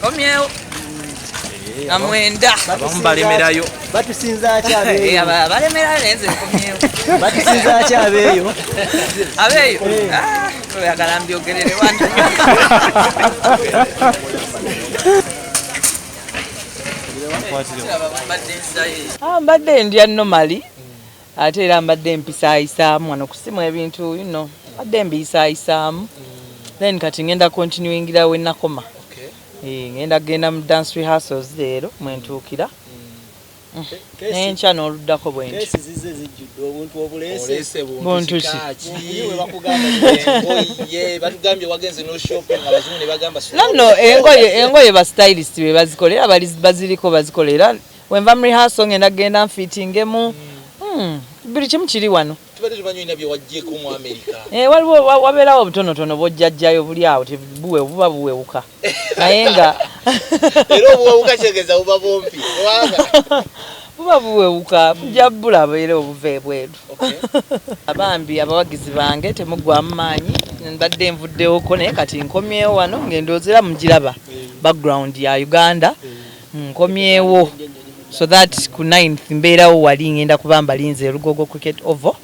Komyewo. Na mwenda. Abamu balemerayo. Batusinza acha abeyo. Eh, aba balemerayo nze komyewo. Batusinza acha abeyo. Abeyo. Eh. Ah, oyagala mbyogerere wantu. Ah, mbadde ndya nomali ate era mbadde mpisaayisaamu wano kusimu ebintu you know mbadde mbiyisaayisaamu then kati ngenda continuingira we nakoma eh, ngenda kugenda mu dance rehearsals leero mwentuukira mm. mm. nenkya n'oluddako bwenti buntu ki nanno engoye engoye ba stylist be bazikola era baziriko bazikola era Wenva mu rehearsal ngenda genda nfitingemu hmm, buli kimu kiri wano eh, waliwo wabeerawo obutonotono bwojjajjayo buli awo tebuwe buba buwewuka naye nga buba buwewuka bujja bulaba era obuva ebweru abambi abawagizi bange temuggwamu maanyi mbadde nvuddewoko naye kati nkomyewo wano ng'endoozera mugiraba eh. background ya uganda eh. nkomyewo so that ku 9th mbeerawo wali ngenda kuba mbalinze lugogo cricket ovo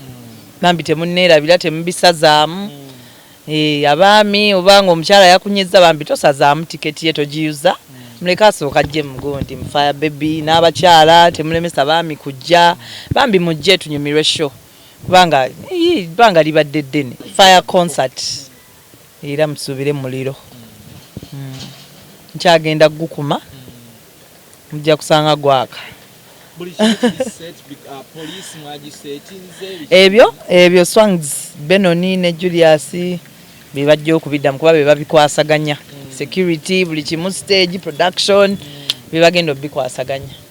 bambi temunneerabira temubisazaamu mm. eh, abaami obanga omukyala yakunyizza bambi tosazaamu tiketi ye togiyuza mm. muleke asooka jje mugundi mufaya bebi n'abakyala temulemesa baami kujja bambi mujje tunyumirwe show kubanga bbanga libadde ddene fire concert Era musubire muliro nkyagenda kugukuma mujja kusanga gwaka. Ebyo ebyo swangs Benoni ne Julius bebajja okubiddamu kuba bebabikwasaganya security buli kimu stage production bebagenda obikwasaganya.